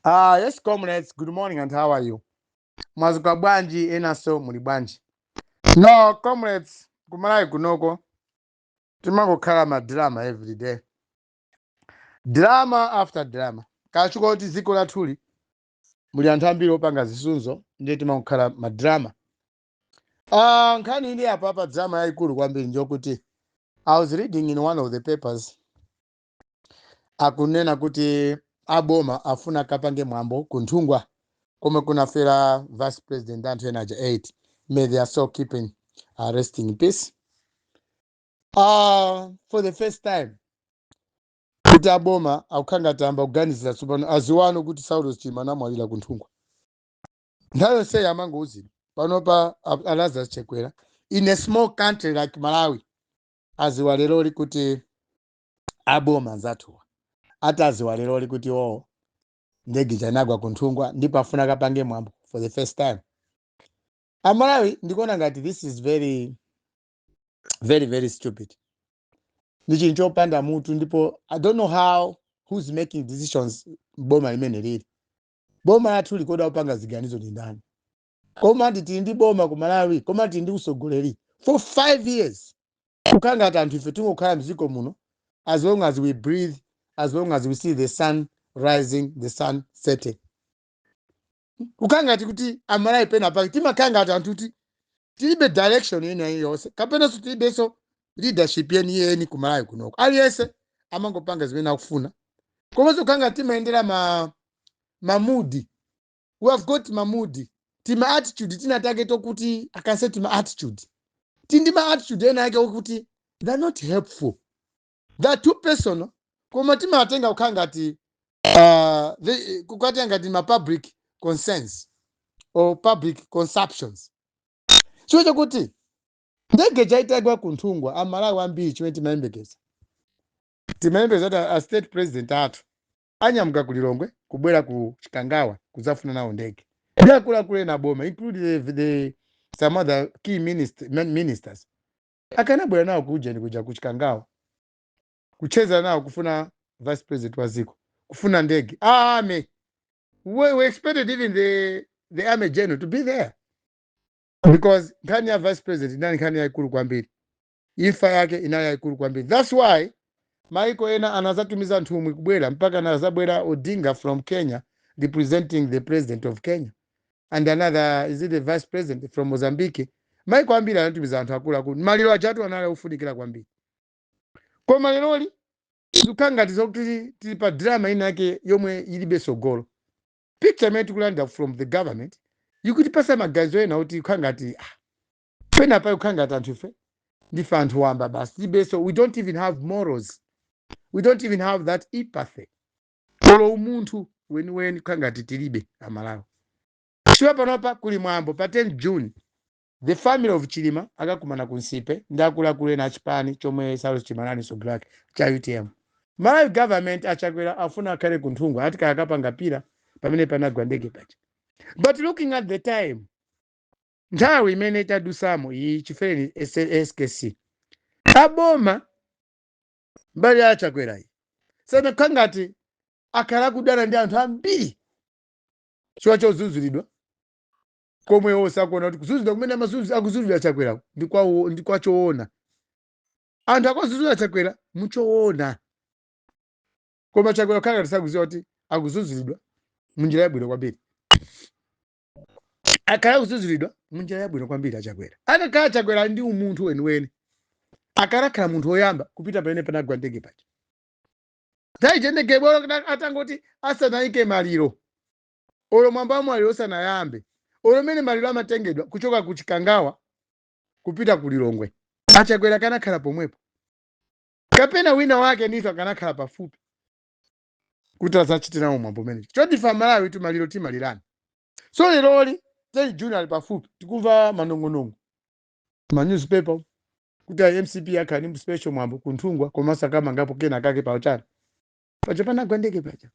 Ah, yes comrades, good morning and how are you? Mwazuka bwanji enaso muli bwanji? No comrades, ku Malawi kunoko timangokhala ma drama every day. Drama after drama. Kachuluka kuti dziko lathuli muli anthu ambiri opanga zisudzo ndiye timangokhala ma drama. Ah, nkhani ili apa pa drama yayikulu kwambiri njoyokuti I was reading in one of the papers akunena kuti aboma afuna kapange mwambo kunthungwa komwe kunafera vice president anthu ena aja 8 may their soul keep resting in peace uh, for the first time kuti aboma akukhala ngati amba kuganizira tsopano aziwano kuti saulos chilima anamwalira kunthungwa nthawi yonseyi amangouzidwa panopa a- a lazarus chakwera in a small country like malawi aziwa leroli kuti aboma anzathuwa ati aziwa leroli kuti oo ndege ija inagwa kunthungwa ndipo afuna kapange mwambo for the first time amalawi ndikuona ngati this is very very very stupid ndi chinthu chopanda mutu ndipo i don't know how who's making decisions m'boma limene lili boma lathuli kodi akupanga ziganizo ndi ndani koma nditi tili ndi boma ku malawi koma nditi tili ndi usogoleri for 5 years kukhala ngati anthu ife tingokhala mdziko muno as long as we breathe as long as we see the sun rising the sun setting kukhala ngati kuti amalawi pena pake timakhala ngati anthu kuti tilibe direction ina iliyonse kapenanso tilibenso leadership yeniyeni ku malawi kunoko aliyense amangopanga zimene akufuna komanso kukhala ngati timayendera mamudi we have got mamudi tima attitude tina take tokuti i can say tima attitude tili ndi ma attitude ena ake okuti they're not helpful they're too personal koma timatenga kukhala ngati uh, they- kukatenga ngati ma public concerns or public consumptions chifukwa chakuti ndege ija itagwa kunthungwa amalawi ambiri chimene timayembekeza timayembekeza kuti a state president athu anyamuka ku Lilongwe kubwera ku Chikangawa kudzafuna nawo ndege ndi akuluakulu ena aboma include some other key minister, min- ministers akanabwera nawo ku ujeni kuja ku Chikangawa kucheza nawo kufuna vice president wa dziko kufuna ndege ame we, we expected even the, the army general to be there because nkhani ya vice president inali nkhani yaikulu kwambiri Imfa yake inali yaikulu kwambiri thats why maiko ena anazatumiza nthumwi kubwera mpaka anazabwera Odinga from Kenya representing the president of Kenya and another is it the vice president from Mozambique maiko ambiri anatumiza anthu akuluakulu maliro ajatu anali ofunikira kwambiri koma leroli zikukhala ngati zokuti tili- tili pa drama ina yake yomwe ilibe tsogolo picture imene tikulandira from the government ikutipasa maganizo ena oti ikukhala ngati ah, pena pake kukhala ngati anthu ife ndife anthu wamba basi tilibe so we don't even have morals we don't even have that empathy olo umunthu weniweni kukhala ngati tilibe amalawi chiwa panopa kuli mwambo pa 10 june the family of chilima akakumana ku nsipe ndi akuluakulu ena achipani chomwe saulos chilima anali msogoleri wake cha utm malawi government achakwera afuna akhale ku nthungwa ati kaya akapanga pillar pamene panagwa ndege paja but looking at the time nthawi imene tadusamo iyi chifereni skc aboma mbali ya chakwerayi zinakhala ngati akhala akudana ndi anthu ambiri chifukwa chodzudzulidwa komwe iwo sakuona kuti kudzudzulidwa kumene amadzudzu- akudzudzulidwa chakwera ndi kwawo- ndi kwa choona anthu akudzudzula chakwera muchoona koma chakwera akukhala ngati sakuziwa kuti akudzudzulidwa munjira yabwino kwambiri akhala kudzudzulidwa munjira yabwino kwambiri achakwera akakhala achakwera ali ndi umunthu weniweni akanakhala munthu woyamba kupita pamene panagwa ndege paja nthawi ija ndege olo atangoti asanayike maliro olo mwambo wa maliro usanayambe olo mene maliro amatengedwa kuchoka ku chikangawa kupita ku lilongwe achakwera akanakhala pomwepo kapena wina wake ndithu akanakhala pafupi kuti adzachite nawo mwambo umene choti ife amalawitu maliro timalirana so leroli 10 june ali pafupi tikumva manong'onong'o ma newspaper kuti a mcp akhala ndi special mwambo kunthungwa komanso akamangapo kena kake paujeni paja panagwa ndege paja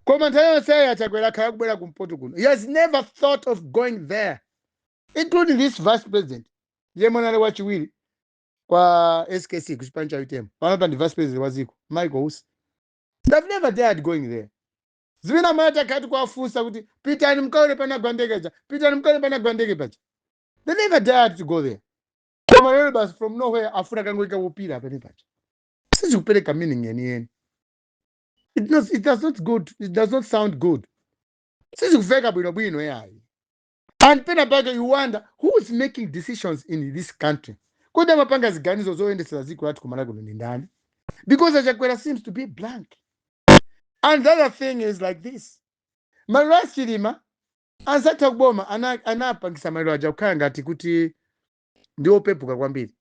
koma nthawi yonseyi achakwera akhala kubwera kumpoto kuno he has never thought of going there including this vice president yemwe anali wachiwiri kwa skc kuchipani cha utm panopa ndi vice president wa dziko michael usi they've never dared going there zimene takhala tikuwafunsa kuti pitani mkaone panagwa ndege paja pitani mkaone panagwa ndege paja they never dared to go there koma lero basi from nowhere afuna kangoika pillar pamene paja sizikupereka meaning yeniyeni it, does- it does not good it does not sound good sizikuveka bwinobwino yayi and pena pake you wonder who is making decisions in this country kodi amapanga ziganizo zoyendetsera dziko lathu ku malawi kuno ndi ndani because achakwera seems to be blank and the other thing is like this maliro a chilima anzathu a kuboma ana- anapangisa maliro aja kukhala ngati kuti ndi opepuka kwambiri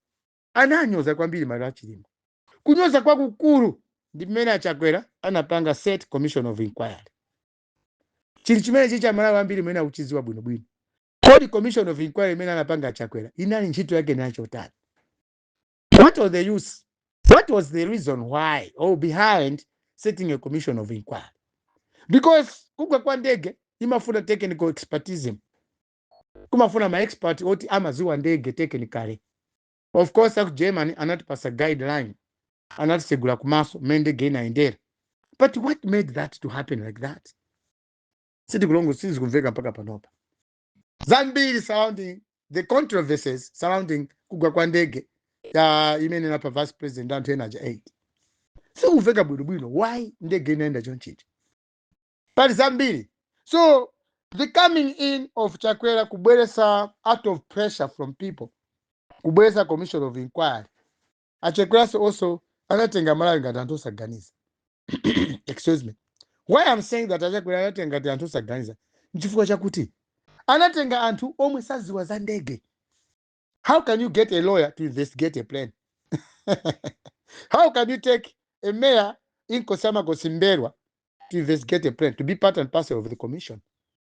ananyoza kwambiri maliro a chilima kunyoza kwakukulu ndi mmene achakwera anapanga set commission of inquiry chinthu chimenechi cha amalawi ambiri mmene akuchidziwa bwinobwino kodi commission of inquiry imene anapanga achakwera inali ntchito yake inali yotani what was the use what was the reason why or behind setting a commission of inquiry because kugwa kwa ndege imafuna technical expertism kumafuna maexpert oti amaziwa ndege technically of course aku germany anatipasa guideline anatitsegula mmaso mmene ndege inayendera but what made that to happen like that sitikulongo sizikumveka mpaka panopa zambiri surrounding the controversies surrounding kugwa kwa ndege ya imene inapha vice president ndi anthu ena aja 8 sizikumveka bwinobwino why ndege inayenda chonchija pali zambiri so the coming in of chakwera kubweresa out of pressure from people kubweresa commission of inquiry achakwera also anatenga aMalawi ngati anthu osaganiza. Excuse me. Why I'm saying that achakwera anatenga ngati anthu osaganiza nchifukwa chakuti anatenga anthu omwe saziwa za ndege. How can you get a lawyer to investigate a plane? How can you take a mayor Inkosi ya Makosi Mbelwa to investigate a plane to be part and parcel of the commission?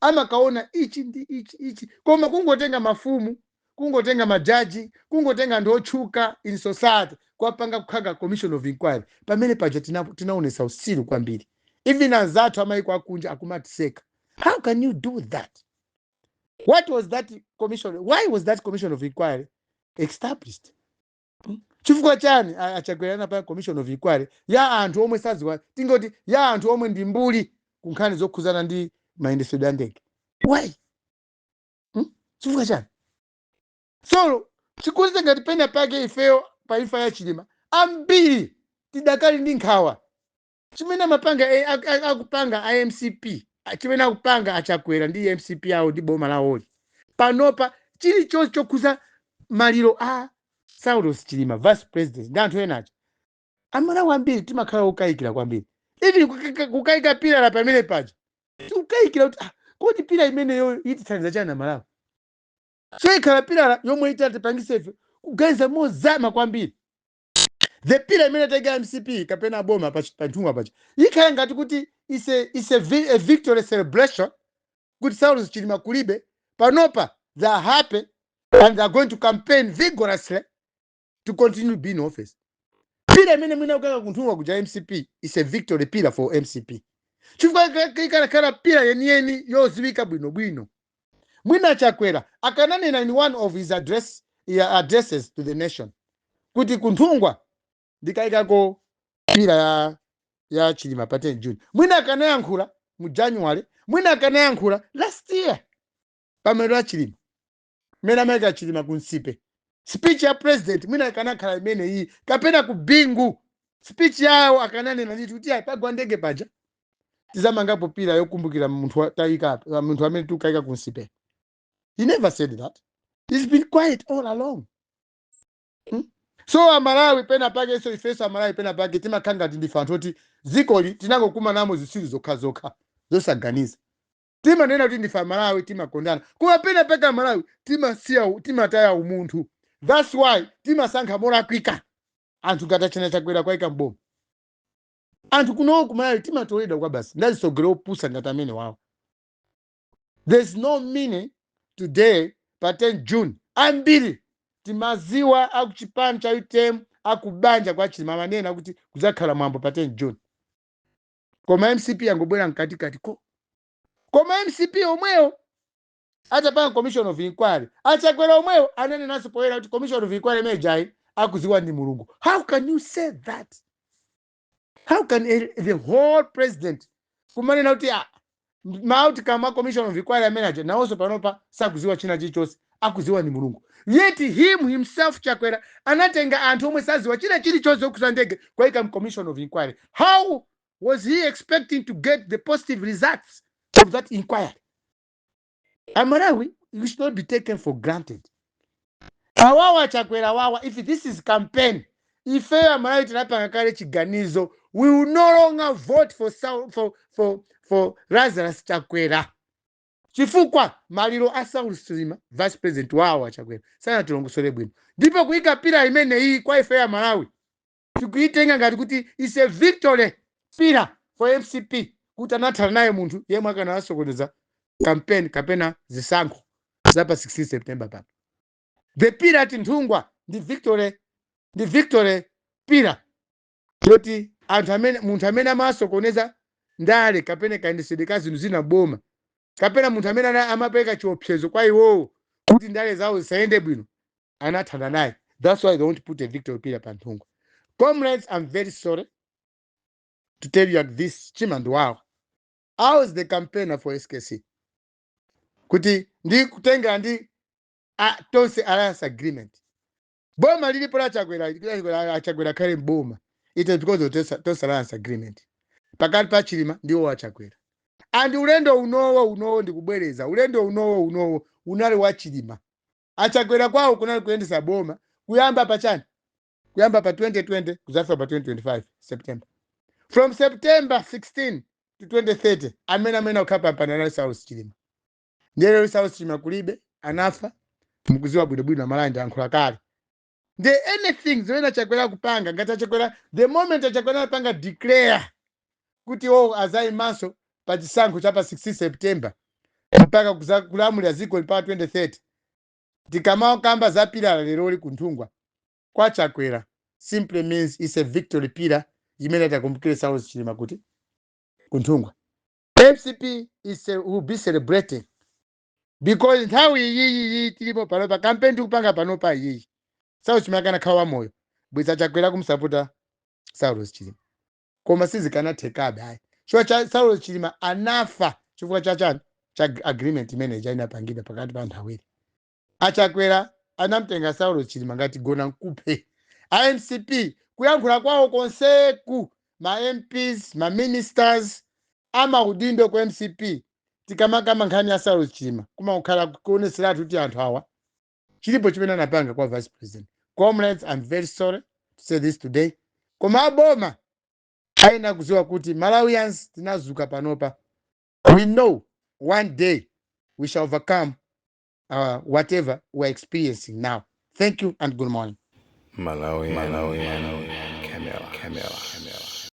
amakaona ichi ndi ichi ichi koma kungotenga mafumu kungotenga majaji kungotenga anthu otchuka in society kuwapanga kuwaika commission of inquiry pamene paja tina, tinaonesa usiru kwambiri even anzathu amayiko akunja akumatiseka how can you do that what was that commission why was that commission of inquiry established Mm. chifukwa chani a- achakwera anapanga commission of inquiry ya anthu omwe sadziwa tingoti ya anthu omwe ndi mbuli ku nkhani zokhudzana ndi mayendetsedwe a ndege why Mm? chifukwa chani so chikuonetsa ngati pena pake ifeyo pa imfa ya chilima ambiri tidakali ndi nkhawa chimene amapanga eh, ak- ak- akupanga a mcp ah, chimene akupanga achakwera ndi mcp yawo ndi boma lawoli panopa chilichonse chokhuza maliro a saulos chilima vice president ndi anthu ena aja amalawi ambiri timakhala okayikira kwambiri even kuka- kuka- kukayika pilala pamene paja tikukayikira kuti ah, kodi pila imeneyo itithandiza chani amalawi so ikhala pilala yomwe itatipangise ife kuganiza mozama kwambiri the pillar imene ataika mcp kapena aboma pa pa nthungwa paja ikukhala ngati kuti is a, is a, vi- a victory celebration kuti saulos chilima kulibe panopa they are happy and they are going to campaign vigorously to continue being in office pila imene mwina akukaika kunthungwa kuja mcp is a victory pillar for mcp chifukwa ika- ika- ikanakhala pila yeniyeni yoziwika bwinobwino mwina achakwera akananena in one of his address, ya addresses to the nation kuti kunthungwa ndikaikako pila ya ya chilima pa 10 june mwina akanayankhula mu january mwina akanayankhula last year pamaliro a chilima mmene amaika chilima ku nsipe speech ya president mwina ikanakhala imene iyi kapena ku bingu speech yawo akananena ndithu kuti apa pagwa ndege paja tizamangapo pila yokumbukira munthu wa- tayika apa- wa- munthu amene tikukayika ku nsipe he never said that he's been quiet all along Hmm? so amalawi pena pake so ifenso amalawi pena pake timakhala ngati ndife anthu oti dzikoli tinangokumanamo zitsiru zokhazokha zosaganiza timanena kuti ndife amalawi timakondana koma pena pake amalawi timasiya u- timataya umunthu thats why timasankha molakwika anthu ngati achina chakwera kuwaika mboma anthu kuno kumalawi timatoledwa kwabasi ndi azitsogoleri opusa ngati amene wawo there's no meaning today pa 10 june ambiri timaziwa akuchipani cha utm akubanja kwa chilima amanena kuti kudzakhala mwambo pa 10 june koma mcp yangobwera mkatikati ko koma mcp yomweyo atapanga commission of inquiry achakwera omwewo ananenanso poyera kuti commission of inquiry imene ijayi akuziwa ndi mulungu how can you say that how can a, the whole president kumanena kuti ah, ma outcome a commission of inquiry amene aja nawonso panopa sakuziwa china chilichonse akuziwa ndi mulungu yet him himself chakwera anatenga anthu omwe saziwa china chilichonse chokhuza ndege kuwaika mu commission of inquiry how was he expecting to get the positive results of that inquiry amalawi you should not be taken for granted awawa chakwera wawa if this is campaign ifeyo amalawi tinapanga kale chiganizo we will no longer vote for, Sau- for, for, for lazarus chakwera chifukwa maliro a saulos chilima vice president wawo achakwera sanatilongosole bwino ndipo kuyika pila imeneyi kwa ifeyo amalawi tikuitenga ngati kuti is a victory pillar for mcp kuti anathana naye munthu yemwe akanawasokoneza campaign kapena zisankho za pa 16 september pano the pillar at nthungwa ndi victory ndi victory pila yoti anthu amene munthu amene amawasokoneza ndale kapena kayendetsedwe ka zinthu zinaboma kapena munthu amene ana- amapereka chiopsezo kwa iwowo kuti ndale zawo zisayende bwino anathana naye that's why they want to put a victory pillar pa Nthungwa comrades i'm very sorry to tell you that this Chimwendo wawa i was the campaigner for skc kuti ndi kutengera ndi tonse alliance agreement boma lilipo la chakwera la- la chakwera khale mboma it is because of tonse alliance agreement pakati pa chilima ndiwo wa chakwera and ulendo unowo unowo ndikubwereza ulendo unowo unowo unali wa chilima achakwera kwawo kunali kuyendesa boma kuyamba pa chani kuyamba pa 2020 kudzafika pa 2025 september from september 16 to 2030 amene amene ukhala pampando anali saulos chilima ndiye lero saulos chilima kulibe anafa mukuziwa bwinobwino a Malawi ndayankhula kale nde anything zimene achakwera akupanga ngati achakwera the moment achakwera anapanga declare kuti wo azayimanso pa chisankho cha pa 16 september mpaka kuza- kulamulira dziko mpaka 2030 tikamakamba za pillar leroli kunthungwa kwa chakwera simply means is a victory pillar imene atakumbukire saulos chilima kuti kunthungwa mcp will be celebrating because nthawi iyi tilipo panopa kampeni tikupanga panopa iyi saulos chilima akanakhala moyo bweza chakwera akumsapota saulos chilima koma sizikanathekabe ayi chifukwa cha saulos chilima anafa chifukwa cha chani cha ag- agreement imene ija inapangidwa pakati pa anthu awiri achakwera anamtenga saulos chilima ngati gona nkuphe a mcp kuyankhula kwawo konseku ma mps ma ministers amaudindo ku mcp tikamakamba nkhani ya saulos chilima kumakhala kuonetseratu kuti anthu awa chilipo chimene anapanga kwa vice president comrades i'm very sorry to say this today koma aboma ayenera kudziwa kuti malawians tinazuka panopa we know one day we shall overcome uh, whatever we're experiencing now thank you and good morning Malawi